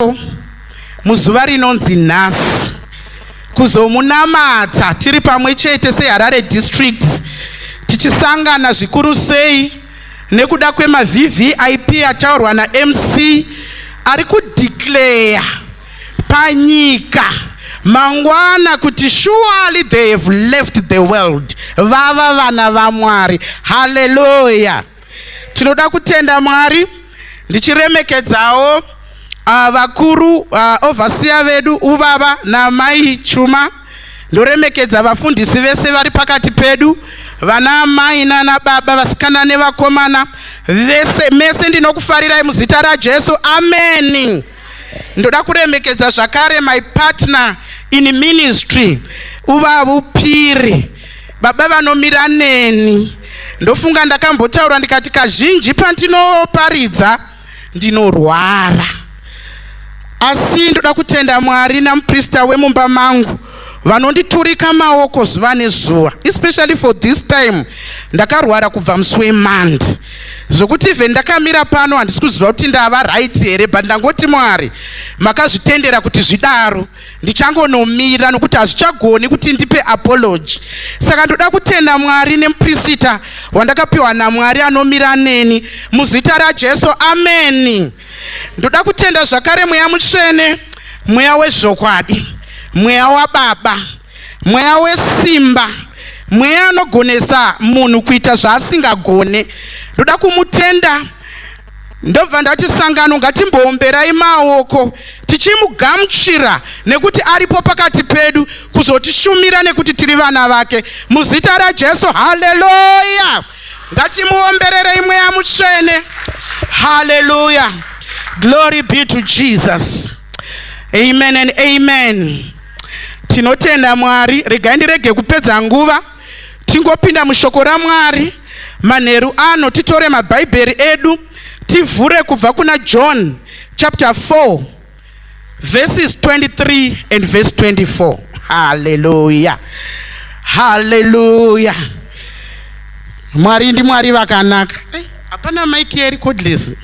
Ndinotendekawo muzuva rinonzi nhasi kuzomunamata tiri pamwe chete seHarare District tichisangana zvikuru sei nekuda kwemaVVIP ataurwa naMC ari kudeclare panyika mangwana kuti surely they have left the world vava vana vamwari haleluya Tinoda kutenda Mwari ndichiremekedzawo uh, vakuru uh, ah, ovhasiya vedu ubaba namai Chuma ndoremekedza vafundisi vese vari pakati pedu vana amai nana baba vasikana nevakomana vese mese ndinokufarirai muzita rajesu ameni Ndoda kuremekedza zvakare my partner in ministry uvavo piri baba vanomira neni ndofunga ndakambotaura ndikati kazhinji pandinoparidza ndinorwara asi ndoda kutenda mwari namuprista wemumba mangu vanonditurika maoko zuva nezuva especially for this time ndakarwara kubva musi wemand zvokuti even ndakamira pano handisi kuziva kuti ndava right here but ndangoti mwari makazvitendera kuti zvidaro ndichangonomira nokuti hazvichagoni kuti ndipe apology saka ndoda kutenda mwari nemuprisita wandakapiwa namwari anomira neni muzita rajesu ameni ndoda kutenda zvakare mweya mutsvene mweya wezvokwadi mweya wababa mweya wesimba mweya anogonesa munhu kuita zvaasingagone ndoda kumutenda ndobva ndati sangano ngatimboomberai maoko tichimugamuchira nekuti aripo pakati pedu kuzotishumira nekuti tiri vana vake muzita rajesu haleluya ngatimuombererei mweya mutsvene haleluya glory be to jesus amen and amen tinotenda mwari regai ndirege kupedza nguva tingopinda mushoko ramwari manheru ano titore mabhaibheri edu tivhure kubva kuna john chapter 4 verses 23 and verse 24 haleluya haleluya mwari ndi mwari vakanaka hapana maiki yeri codless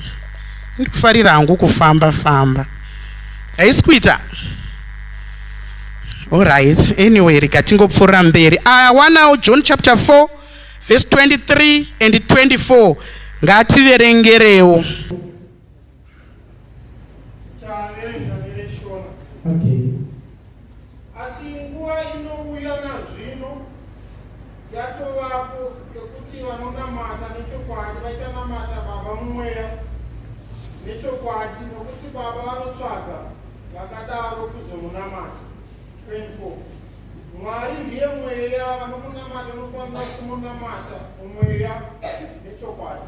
ndikufarira hangu kufamba famba haisi kuita allright anyway rega tingopfuura mberi awanawo ah, john chapter 4 verse 23 and 24 ngativerengerewo Okay. Asi nguva inouya nazvino yatovapo yekuti vanonamata nechokwadi vachanamata baba mumweya nechokwadi nokuti baba vanotsvaga vakadaro kuzomunamata 24 mwari ndiye mweya vanomunamata unofanira kumunamata mumweya nechokwadi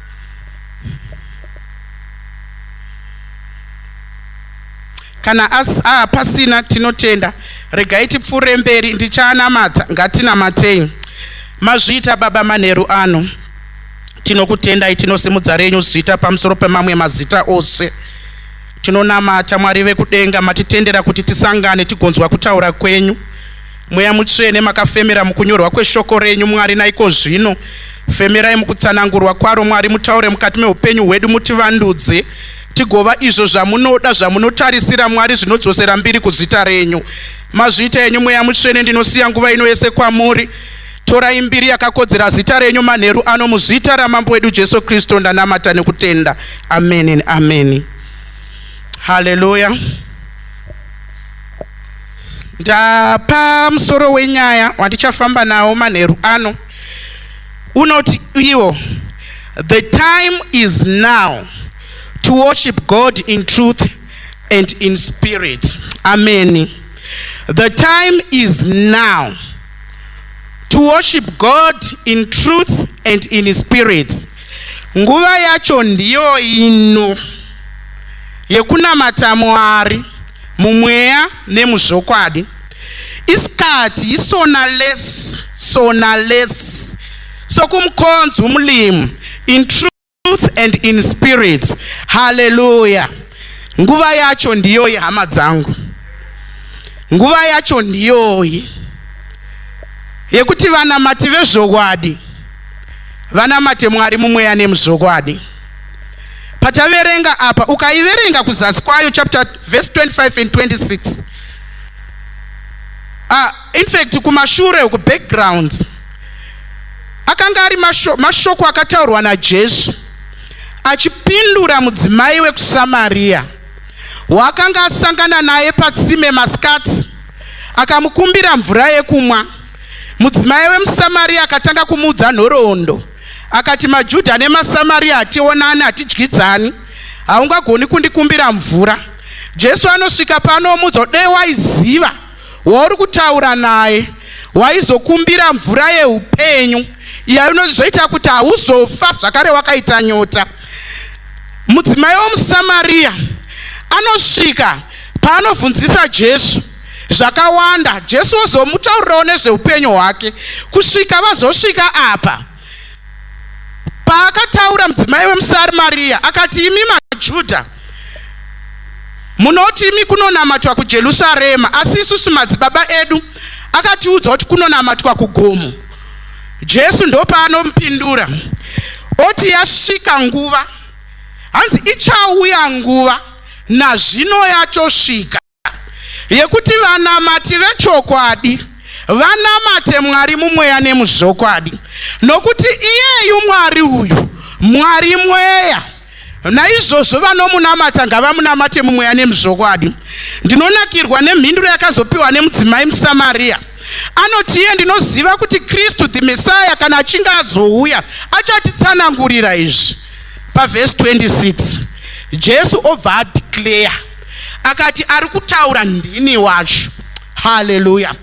kana asi ah, pasina tinotenda regai tipfuure mberi ndichaanamata ngatinamatei mazviita baba manheru ano tinokutendai tinosimudza renyu zita pamusoro pemamwe mazita ose tinonamata mwari vekudenga matitendera kuti tisangane tigonzwa kutaura kwenyu Mweya Mutsvene, makafemera mukunyorwa kweshoko renyu, Mwari, naiko zvino femerai mukutsanangurwa kwaro, Mwari, mutaure mukati meupenyu hwedu, mutivandudze tigova izvo zvamunoda zvamunotarisira mwari zvinodzosera mbiri kuzita renyu mazviita yenyu mweya mutsvene ndinosiya nguva ino yese kwamuri torai mbiri yakakodzera zita renyu manheru ano muzita ramambo wedu jesu kristu ndanamata nekutenda ameni ameni haleluya Ndapa musoro wenyaya wandichafamba nawo manheru ano unoti iwo the time is now to worship God in truth and in spirit. Amen. The time is now to worship God in truth and in spirit. Nguva yacho ndiyo ino yekunamata Mwari. mumweya nemuzvokwadi isikati yisona less sona less sokumukhonza umlimu in truth and in spirit haleluya nguva yacho ndiyoyi hama dzangu nguva yacho ndiyoyi yekuti vanamati vezvokwadi vanamate mwari mumweya nemuzvokwadi pataverenga apa ukaiverenga kuzasi kwayo chapter verse 25 and 26 ah, in fact kumashure uku background akanga ari mashoko akataurwa najesu achipindura mudzimai wekusamariya waakanga asangana naye patsime masikati akamukumbira mvura yekumwa mudzimai wemusamariya akatanga kumuudza nhoroondo Akati, MaJudha nemaSamaria hationani, hatidyidzani. Haungagoni kundikumbira mvura. Jesu anosvika pano omuudza kuti dai waiziva wauri kutaura naye waizokumbira mvura yeupenyu iya inozoita kuti hauzofa zvakare wakaita nyota. Mudzimai womuSamaria anosvika paanobvunzisa Jesu. zvakawanda jesu vozomutaurirawo nezveupenyu hwake kusvika vazosvika apa paakataura mudzimai wemusarimariya akati imi majudha munoti imi kunonamatwa kujerusarema asi isusu madzibaba edu akatiudza kuti kunonamatwa kugomo jesu ndopaanomupindura oti yasvika nguva hanzi ichauya nguva nazvino yatosvika yekuti vanamati vechokwadi vanamate mwari mumweya nemuzvokwadi nokuti iyeyu mwari uyu mwari mweya naizvozvo vanomunamata ngavamunamate mumweya nemuzvokwadi ndinonakirwa nemhinduro yakazopiwa nemudzimai musamariya anoti iye ndinoziva kuti kristu the messiah kana achinge azouya achatitsanangurira izvi pavhesi 26 jesu obva adeclare akati ari kutaura ndini wacho haleluya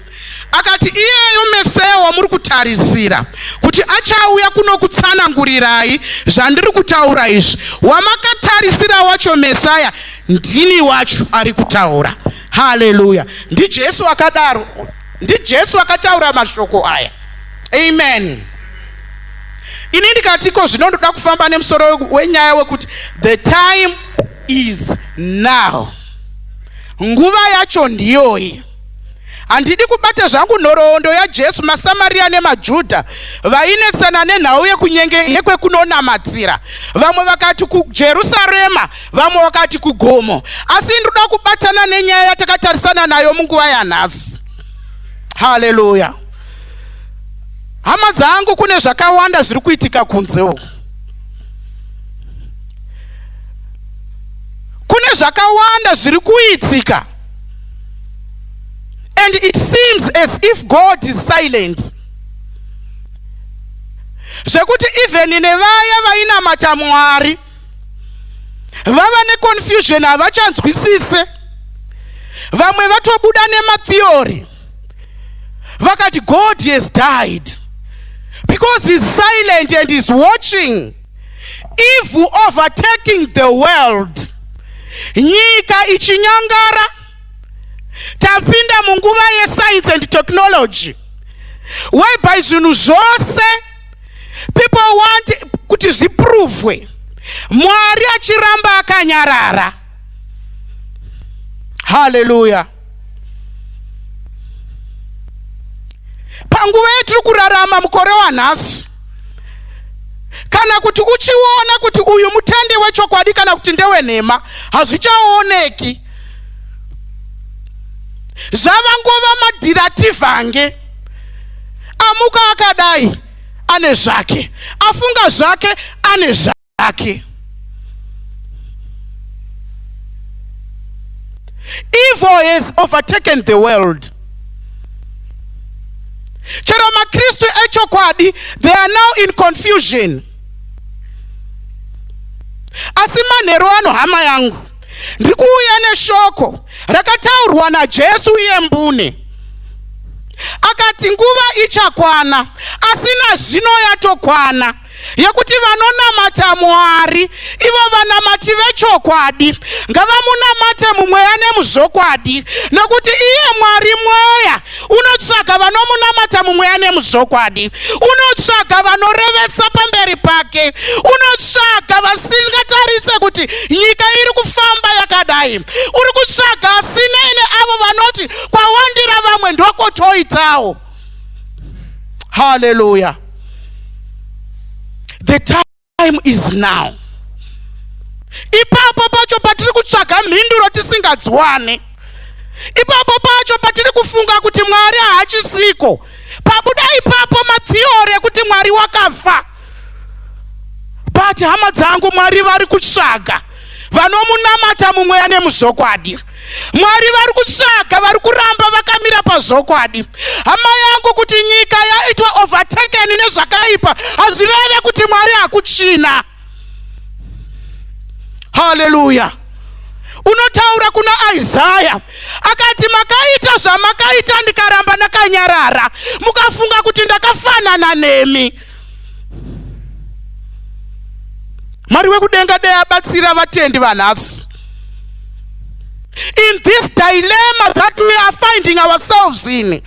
akati iyeyo meseya wamuri kutarisira kuti achauya kunokutsanangurirai zvandiri kutaura izvi wamakatarisira wacho mesaya ndini wacho ari kutaura haleluya ndijesu akadaro ndijesu akataura mashoko aya amen ini ndikatiko zvino ndoda kufamba nemusoro wenyaya wekuti the time is now nguva yacho ndiyoyi handidi kubata zvangu nhoroondo yajesu masamariya nemajudha vainetsana nenhau yekunyenge yekwekunonamatira vamwe vakati kujerusarema vamwe vakati kugomo asi ndinoda kubatana nenyaya yatakatarisana nayo munguva yanhasi haleluya hama dzangu kune zvakawanda zviri kuitika kunze uku kune zvakawanda zviri kuitika and it seems as if god is silent zvekuti even nevaya vainamata mwari vava neconfusion havachanzwisise vamwe vatobuda nematheory vakati god has died because he's silent and he's watching Evil overtaking the world. Nyika ichinyangara. Tapinda munguva yeScience and Technology. Whereby zvinhu zvose people want kuti zviprovwe. Mwari achiramba akanyarara. Hallelujah. panguva yatiri kurarama mukore wanhasi kana kuti uchiona kuti uyu mutende wechokwadi kana kuti ndewenhema hazvichaoneki zvava nguva madhirativange amuka akadai ane zvake afunga zvake ane zvake ake evil has overtaken the world chero makristu echokwadi they are now in confusion asi manheru ano hama yangu ndiri kuuya neshoko rakataurwa najesu iye mbune akati nguva ichakwana asi nazvino yatokwana yekuti vanonamata Mwari ivo vanamati vechokwadi ngavamunamate mumweya nemuzvokwadi nokuti iye Mwari mweya unotsvaga vanomunamata mumweya nemuzvokwadi unotsvaga vanorevesa pamberi pake unotsvaga vasingatarise kuti nyika iri kufamba yakadai uri kutsvaga asinei neavo vanoti kwawandira vamwe ndokotoitawo Hallelujah. The time is now. Ipapo pacho patiri kutsvaga mhinduro tisingadziwane. Ipapo pacho patiri kufunga kuti Mwari haachisiko. Pabuda ipapo matheory ekuti Mwari wakafa. but hama dzangu mwari vari kutsvaga vanomunamata mumweya nemuzvokwadi mwari vari kutsvaga vari kuramba vakamira pazvokwadi hama yangu kuti nyika yaitwa overtaken nezvakaipa hazvireve kuti mwari hakuchina haleluya unotaura kuna isaya akati makaita zvamakaita ndikaramba ndakanyarara mukafunga kuti ndakafanana nemi mwari wekudenga dei abatsira vatendi vanhasi in this dilemma that we are finding ourselves in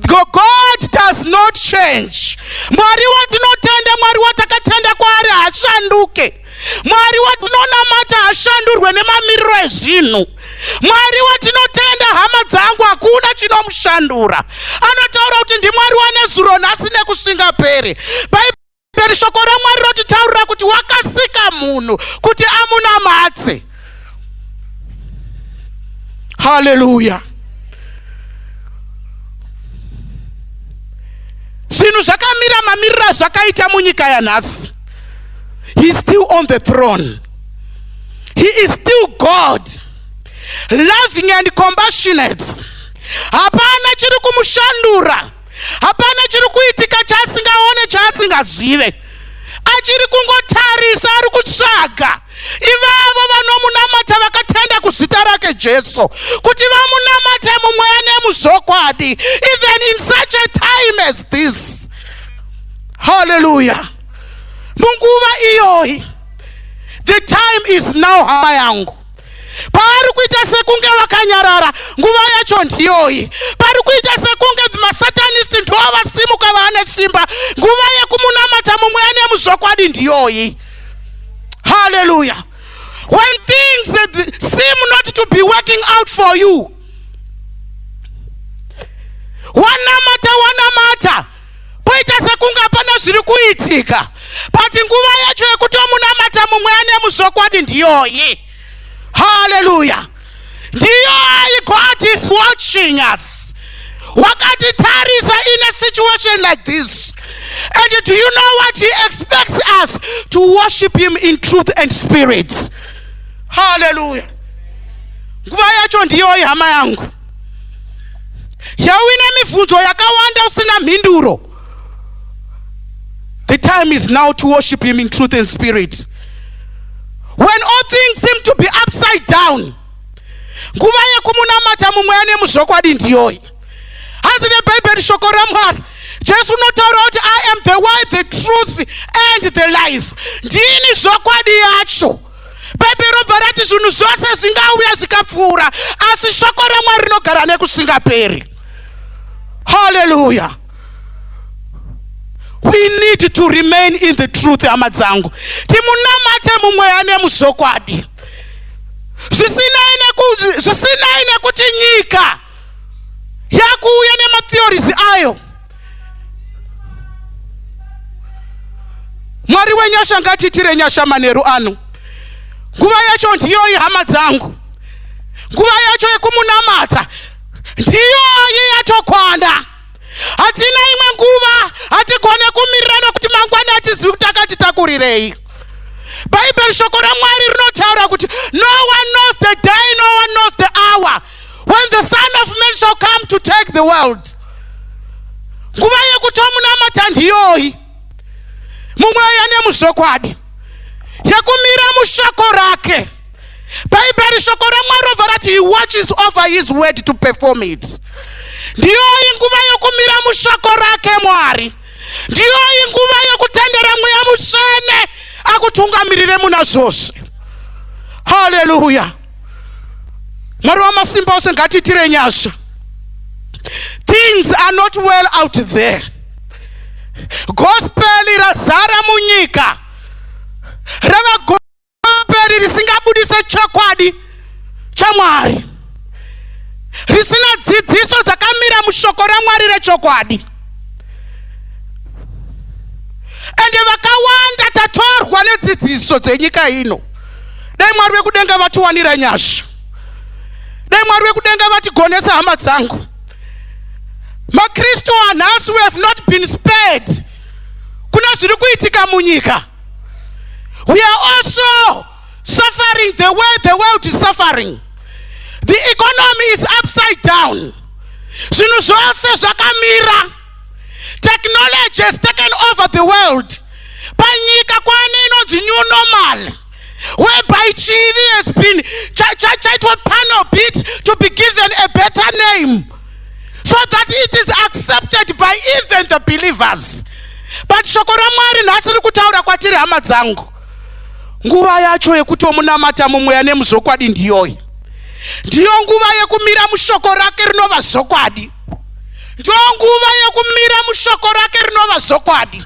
god does not change mwari watinotenda mwari watakatenda kwaari hashanduke mwari watinonamata hashandurwe nemamiriro ezvinhu mwari watinotenda hama dzangu hakuna chinomushandura anotaura kuti ndimwari wanezuro nhasi nekusingaperi bhaibheri shoko ramwari rotitaurira kuti wakasika munhu kuti amunamatse haleluya zvinhu zvakamira mamiriro azvakaita munyika yanhasi he is still on the throne he is still god loving and compassionate hapana chiri kumushandura hapana chiri kuitika chaasingaone chaasingazive achiri kungotarisa ari kutsvaga ivavo vanomunamata vakatenda kuzita rake jesu kuti vamunamate mumweya nemuzvokwadi even in such a time as this halleluya munguva iyoyi the time is now hama yangu paari kuita sekunge vakanyarara nguva yacho ndiyoyi pari kuita sekunge masatanist ndiwo vasimuka vaane simba nguva yekumunamata mumwe ane muzvokwadi ndiyoyi haleluya when things seem not to be working out for you wanamata wanamata Poita sekunge hapana zviri kuitika, but nguva yacho yekuti omunamata mumwe ane muzvokwadi ndiyoyi. Haleluya! Ndiyoyi, God is watching us. Wakatitarisa in a situation like this. And do you know what He expects us to worship Him in truth and spirit? Haleluya! Nguva yacho ndiyoyi, hama yangu. yauine mibvunzo yakawanda usina mhinduro the time is now to worship him in truth and spirit when all things seem to be upside down nguva yekumunamata mumweya nemuzvokwadi ndiyoyi hanzi nebhaibheri shoko ramwari jesu unotaura kuti i am the way the truth and the life ndini zvokwadi yacho bhaibheri robva rati zvinhu zvose zvingauya zvikapfuura asi shoko ramwari rinogara nekusingaperi haleluya we need to remain in the truth hama dzangu timunamate mumweya nemuzvokwadi zvisinei nekuti nyika yakuuya nematheories ayo mwari wenyasha ngatiitire nyasha manheru ano nguva yacho ndiyoyi hama dzangu nguva yacho yekumunamata ndiyoyi yatokwana hatina imwe nguva hatigone kumirirana kuti mangwana hatizivi kuti akatitakurirei bhaibheri shoko ramwari rinotaura kuti no one knows the day no one knows the hour when the son of man shall come to take the world nguva yekutomunamata ndiyoyi mumweya nemuzvokwadi yekumira mushoko rake bhaibheri shoko ramwari rovha rati he watches over his word to perform it ndiyoyi nguva yekumira mushoko rake mwari ndiyoyi nguva yekutendera mweya mutsvene akutungamirire muna zvose haleluya mwari wamasimba ose ngatiitire nyasha things are not well out there gospel razara munyika rava gospel risingabudise chokwadi chamwari risina dzidziso dzakamira mushoko ramwari rechokwadi ende vakawanda tatorwa nedzidziso dzenyika ino dai mwari vekudenga vatiwanira nyasha dai mwari vekudenga vatigonesa hama dzangu makristu anhasi we have not been spared kuna zviri kuitika munyika we are also suffering the way the world is suffering the economy is upside down zvinhu zvose zvakamira technology has taken over the world panyika kwane inonzi new normal whereby chivi has been chaitwa panel bit to be given a better name so that it is accepted by even the believers but shoko ramwari nhasi ri kutaura kwatiri hama dzangu nguva yacho yekutomunamata mumweya nemuzvokwadi ndiyoyi ndiyo nguva yekumira mushoko rake rinova zvokwadi ndonguva yekumira mushoko rake rinova zvokwadi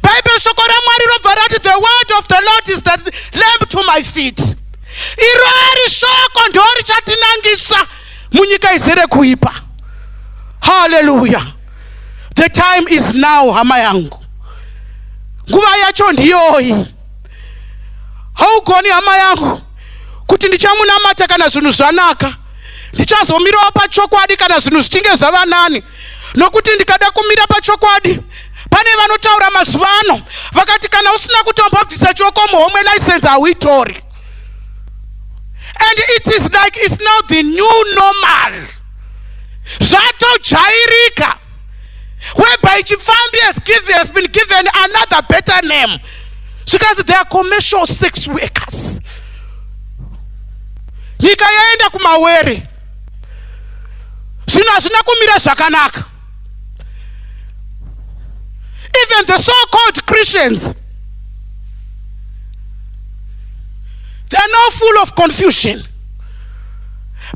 bhaibheri shoko ramwari robva rati the word of the lord is the lamp to my feet iro ari shoko ndo richatinangisa munyika izere kuipa haleluya the time is now hama yangu nguva yacho ndiyoyi haugoni hama yangu kuti ndichamunamata kana zvinhu zvanaka ndichazomirawo pachokwadi kana zvinhu zvichinge zvava nani nokuti ndikada kumira pachokwadi pane vanotaura mazuva ano vakati kana usina kutombobvisa choko muhomwe license hauitori and it is like its now the new normal zvatojairika whereby chipfambi has, given, has been given another better name zvikanzi they are commercial sex workers nyika yaenda kumawere zvino hazvina kumira zvakanaka even the so called christians they are now full of confusion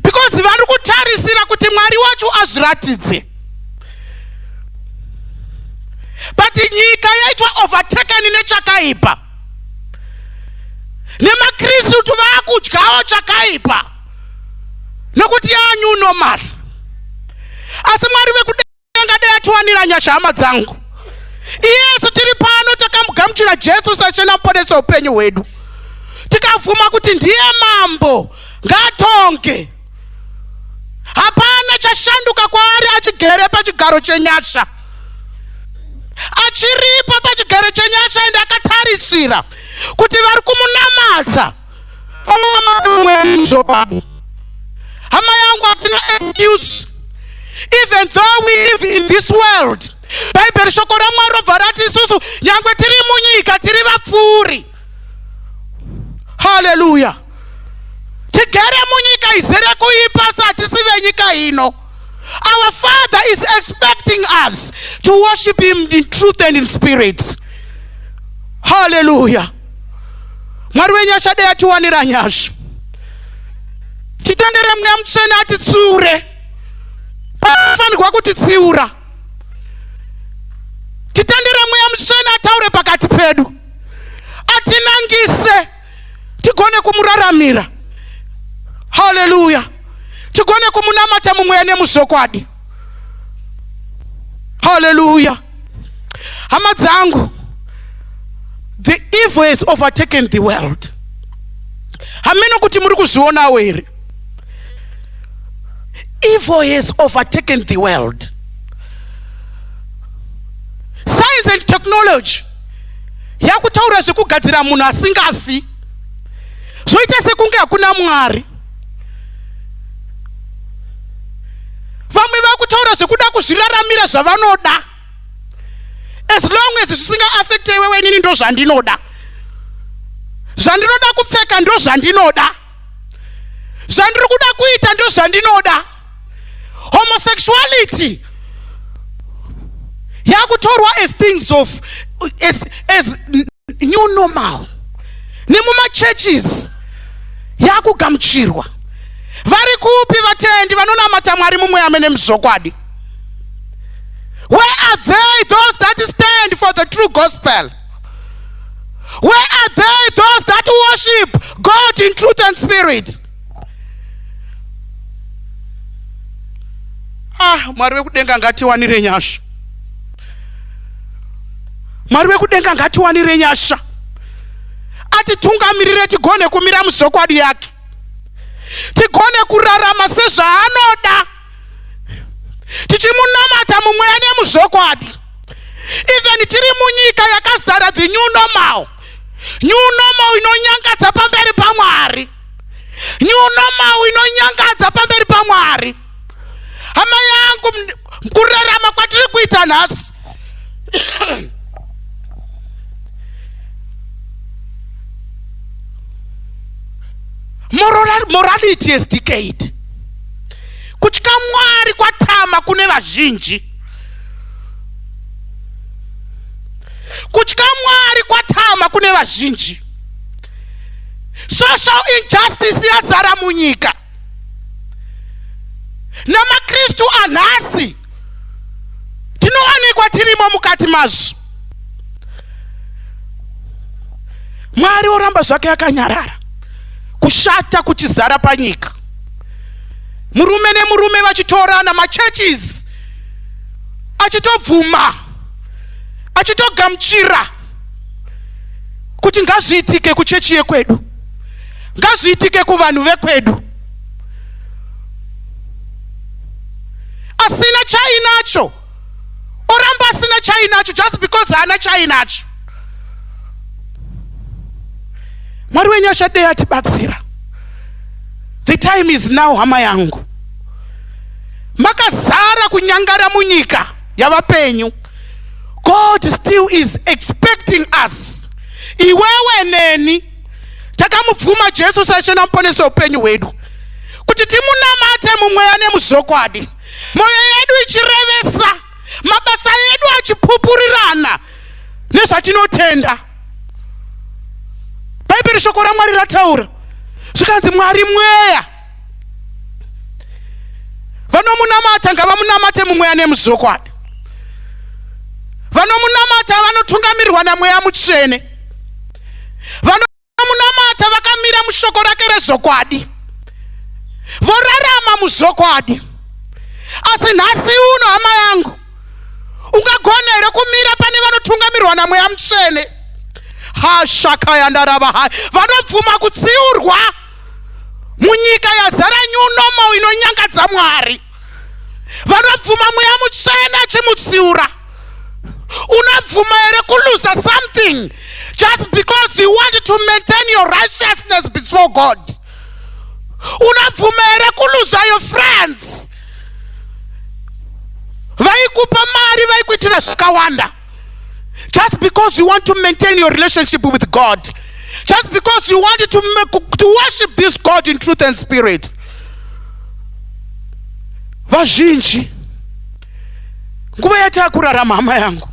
because vari kutarisira kuti mwari wacho azviratidze but nyika yaitwa overtaken nechakaipa nemakristu vaakudyawo chakaipa nokuti yaanyu normal asi mwari vekuda angadai atiwanira nyasha hama dzangu iyesu tiri pano takamugamuchira jesu sachena muponesi weupenyu hwedu tikabvuma kuti ndiye mambo ngatonge hapana chashanduka kwaari achigere pachigaro chenyasha achiripo pachigaro chenyasha ende akatarisira kuti vari kumunamata hama yangu hapina excuse even though we live in this world bhaibheri shoko ramwari robva rati isusu nyangwe tiri munyika tiri vapfuuri haleluya tigere munyika izere kuipa satisi venyika ino our father is expecting us to worship him in truth and in spirit haleluya mwari wenyu achadei atiwanira nyasha titendere mweya mutsvene atitsiure paafanirwa kutitsiura titendere mweya mutsvene ataure pakati pedu atinangise tigone kumuraramira haleluya tigone kumunamata mumweya nemuzvokwadi Hallelujah. Hama dzangu, the evil has overtaken the world. Hameno kuti muri kuzvionawo here? Evil has overtaken the world. Science and technology yakutaura zvekugadzira munhu asingafi zvoita sekunge hakuna Mwari. vamwe vakutaura zvekuda kuzviraramira zvavanoda as long as zvisingaafekte iwewe inini ndo zvandinoda zvandinoda kupfeka ndo zvandinoda zvandiri kuda kuita ndo zvandinoda homosexuality yakutorwa as things of as, as new normal nemumachurches yakugamuchirwa vari kupi vatendi vanonamata mwari mumwe amene muzvokwadi where are they those that stand for the true gospel where are they those that worship god in truth and spirit ah mwari wekudenga ngatiwanire nyasha mwari wekudenga ngatiwanire nyasha atitungamirire tigone kumira muzvokwadi yake tigone kurarama sezvaanoda tichimunamata mumweya nemuzvokwadi even tiri munyika yakazara the new normal new normal inonyangadza pamberi pamwari new normal inonyangadza pamberi pamwari hama yangu kurarama kwatiri kuita nhasi morality is decade kutya mwari kwatama kune vazhinji kutya mwari kwatama kune vazhinji social injustice yazara munyika namakristu anhasi tinowanikwa tirimo mukati mazvo mwari oramba zvake akanyarara kushata kuchizara panyika murume nemurume vachitorana machurches achitobvuma achitogamuchira kuti ngazviitike kuchechi yekwedu ngazviitike kuvanhu vekwedu asina chainacho oramba asina chainacho just because haana chainacho mwari wenyu achadei atibatsira the time is now hama yangu makazara kunyangara munyika yavapenyu God still is expecting us. Iwewe neni takamubvuma Jesu saishe namuponesi weupenyu hwedu kuti timunamate mumweya nemuzvokwadi, mwoyo yedu ichirevesa, mabasa edu achipupurirana nezvatinotenda. Bhaibheri shoko raMwari rataura zvikanzi Mwari mweya. vanomunamata ngavamunamate mumweya nemuzvokwadi vanomunamata vanotungamirwa namweya mutsvene vanomunamata vakamira mushoko rake rezvokwadi vorarama muzvokwadi asi nhasi uno hama yangu ungagona here kumira pane vanotungamirwa namweya mutsvene hashaka yandarava hai vanobvuma kutsiurwa munyika yazara new normal inonyangadza mwari vanobvuma mweya mutsvene achimutsiura unobvuma here kuluza something just because you want to maintain your righteousness before god unobvuma here kuluza your friends vaikupa mari vaikuitira zvikawanda just because you want to maintain your relationship with god just because you wanted to, make, to worship this god in truth and spirit vazhinji nguva yatakurarama hama yangu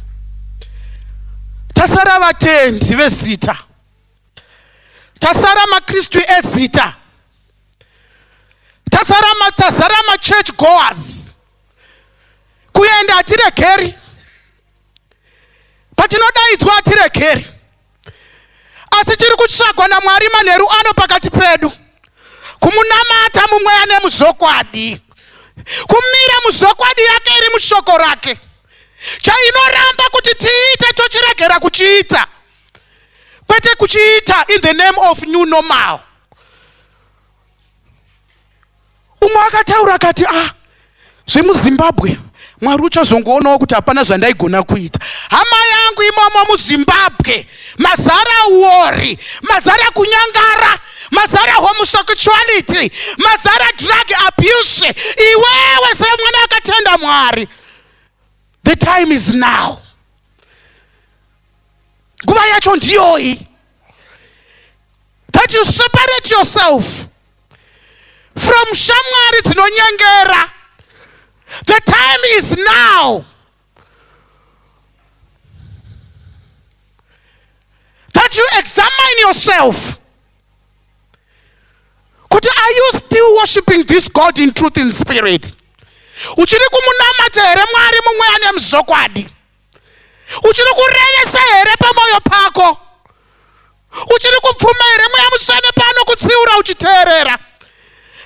tasara vatendi vezita tasara makristu ezita tasara tazara machurch goers kuenda hatiregeri patinodaidzwa hatiregeri asi chiri kutsvagwa namwari manheru ano pakati pedu kumunamata mumweya nemuzvokwadi kumira muzvokwadi yake iri mushoko rake chainoramba kuti tiite tochiregera kuchiita kwete kuchiita in the name of new normal umwe akataura akati ah zvemuzimbabwe mwari uchazongoonawo kuti hapana zvandaigona kuita hama yangu imomo muzimbabwe mazara wori mazara kunyangara mazara homosexuality mazara drug abuse iwewe semwana akatenda mwari the time is now nguva yacho ndiyoyi that you separate yourself from shamwari dzinonyengera the time is now that you examine yourself kuti are you still worshiping this god in truth in spirit uchiri kumunamata here mwari mumweya nemzokwadi uchiri kurevesa here pamwoyo pako uchiri kupfuma here mweya mutsvene pano kutsiura uchiteerera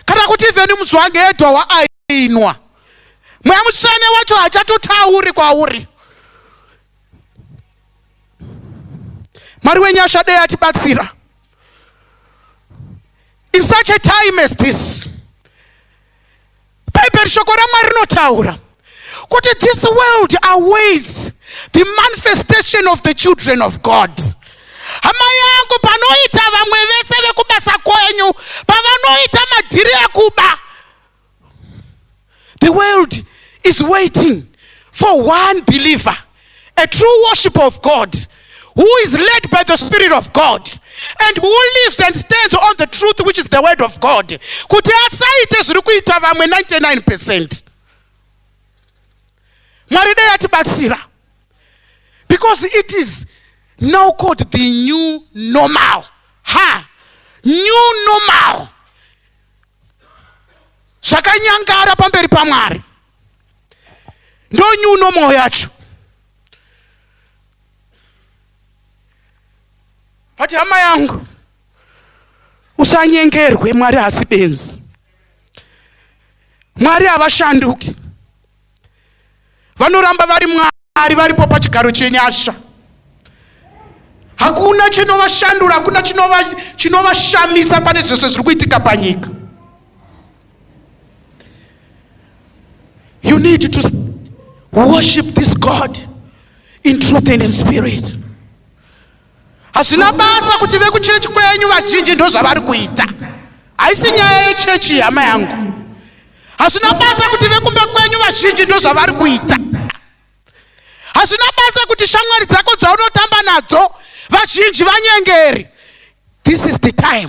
kana kuti ivheni muzwange edwa waainwa mweya mutsvene wacho hachatotauri kwauri mwari wenyasha dei atibatsira in such a time as this bhaibheri shoko ramwari rinotaura kuti this world awaits the manifestation of the children of god hama yangu panoita vamwe vese vekubasa kwenyu pavanoita madhiri ekuba the world is waiting for one believer A true worshiper of God who is led by the Spirit of God and who lives and stands on the truth which is the word of God kuti asaite zviri kuita vamwe 99 percent mwari dai atibatsira because it is now called the new normal ha new normal zvakanyangara pamberi pamwari ndo new normal yacho vati hama yangu usanyengerwe mwari hasi benzi mwari havashanduki vanoramba vari mwari varipo pachigaro chenyasha hakuna chinovashandura hakuna chinovashamisa pane zvese zviri kuitika panyika You need to worship this God in truth and in spirit. Hazvina basa kuti vekuchechi kwenyu vazhinji ndozvavari kuita. Haisi nyaya yechechi hama yangu. Hazvina basa kuti vekumba kwenyu vazhinji ndozvavari kuita. Hazvina basa kuti shamwari dzako dzaunotamba nadzo vazhinji vanyengeri. This is the time.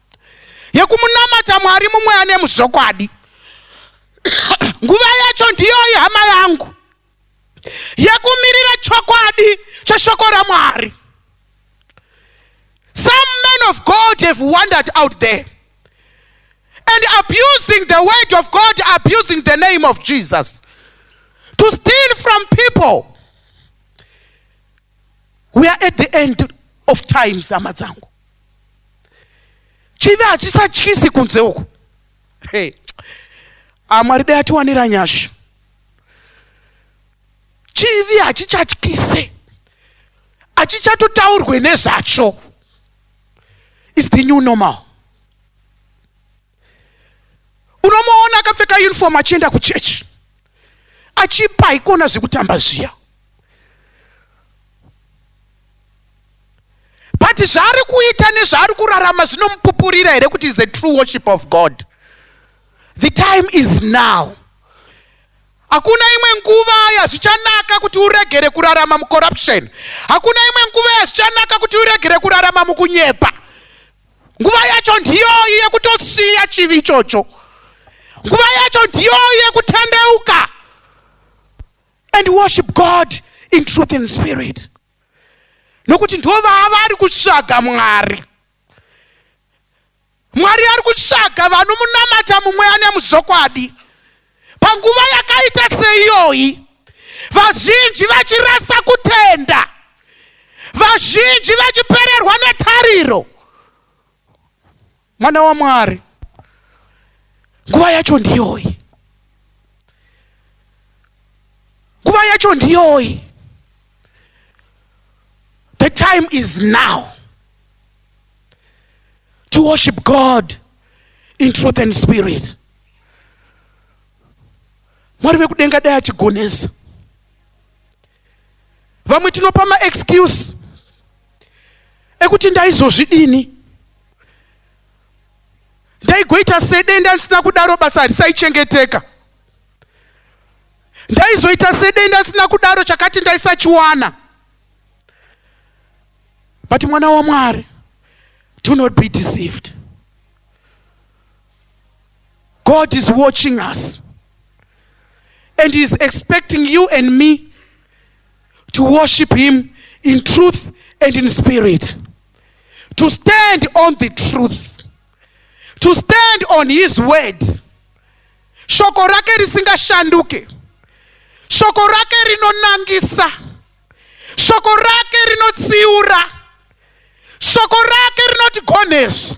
yekunamata mwari mumwe ane muzvokwadi nguva yacho ndiyoyi hama yangu yekumirira chokwadi cheshoko ramwari some men of god have wandered out there and abusing the word of god abusing the name of jesus to steal from people we are at the end of times hama dzangu chivi hachisatyisi kunze uku hey. amwari ah, dai atiwanira nyasha chivi hachichatyise hachichatotaurwe nezvacho is the new normal unomuona akapfeka uniform achienda kuchechi achipa haikona zvekutamba zviya but zvaari kuita nezvaari kurarama zvinomupupurira here kuti is the true worship of god the time is now hakuna imwe nguva yazvichanaka kuti uregere kurarama mucorruption hakuna imwe nguva yazvichanaka kuti uregere kurarama mukunyepa nguva yacho ndiyoyi yekutosiya chivi ichocho nguva yacho ndiyoyi yekutendeuka and worship god in truth and spirit nokuti ndo vaavari kutsvaga mwari mwari ari kutsvaga vanomunamata mumweya nemuzvokwadi Panguva yakaita seiyoyi, vazhinji vachirasa kutenda, vazhinji vachipererwa netariro. Mwana waMwari, nguva yacho ndiyoyi, nguva yacho ndiyoyi. The time is now to worship God in truth and spirit. mwari vekudenga dai atigonesa vamwe tinopa maexcuse ekuti ndaizozvidini ndaigoita sedenda ndisina kudaro basa harisaichengeteka ndaizoita sedenda ndisina kudaro chakati ndaisachiwana but mwana wamwari do not be deceived God is watching us and He is expecting you and me to worship Him in truth and in spirit, to stand on the truth, to stand on His word. Shoko rake risingashanduke, shoko rake rinonangisa, shoko rake rinotsiura, shoko rake rinotigonesa.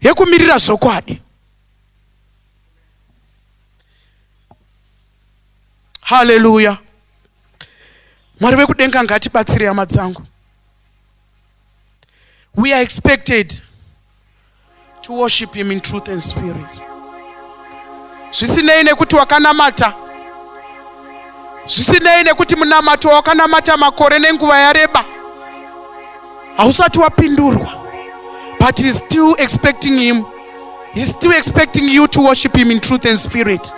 yekumirira zvokwadi haleluya mwari vekudenga ngatibatsire hama dzangu we are expected to worship him in truth and spirit zvisinei nekuti wakanamata zvisinei nekuti munamato wakanamata makore nenguva yareba hausati wapindurwa but he's still expecting him he's still expecting you to worship him in truth and spirit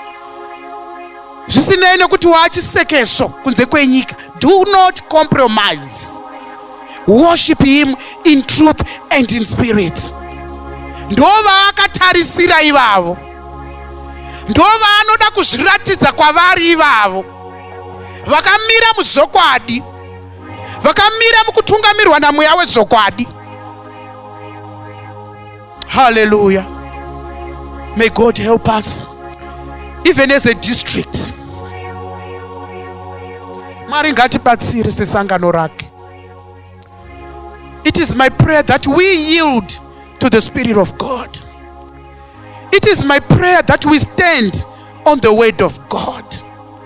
zvisinei nekuti waachisekeso kunze kwenyika do not compromise worship him in truth and in spirit ndovaakatarisira ivavo ndovanoda kuzviratidza kwavari ivavo vakamira muzvokwadi vakamira mukutungamirwa namweya wezvokwadi haleluya may god help us even as a district mwari ngatibatsire sesangano rake it is my prayer that we yield to the spirit of god it is my prayer that we stand on the word of god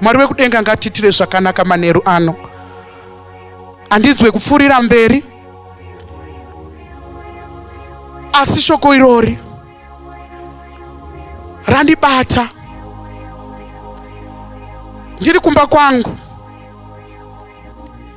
mwari wekudenga ngatitire zvakanaka manheru ano handinzwe kupfuurira mberi asi shoko irori randibata ndiri kumba kwangu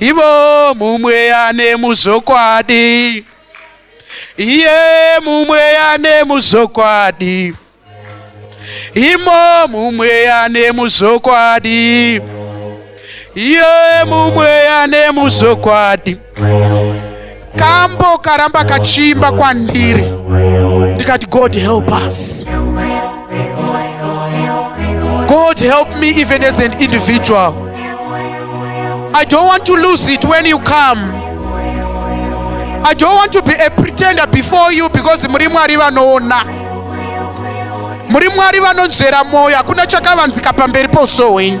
ivo mumweya nemuzvokwadi iye mumweya nemuzvokwadi imo mumweya nemuzvokwadi iye mumweya nemuzvokwadi kambo karamba kachiimba kwandiri ndikati god help us god help me even as an individual i don't want to lose it when you come i don't want to be a pretender before you because muri mwari vanoona muri mwari vanonzvera mwoyo hakuna chakavanzika pamberi pouso hwenyu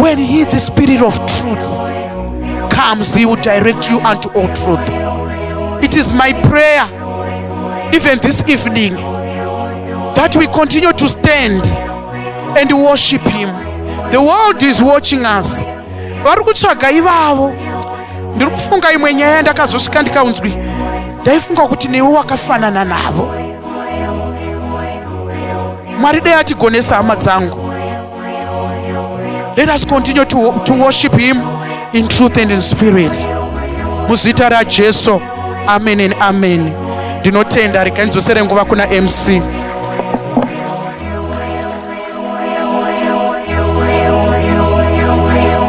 When he, the spirit of truth, comes, he will direct you unto all truth. It is my prayer, even this evening, that we continue to stand and worship him. The world is watching us. vari kutsvaga ivavo ndiri kufunga imwe nyaya ndakazosvika ndikaunzwi ndaifunga kuti newe wakafanana navo Mwari dai atigonesa hama dzangu. Let us continue to, to worship him in truth and in spirit. Muzita raJesu. Amen and amen. Ndinotenda rikanidzosere nguva kuna MC.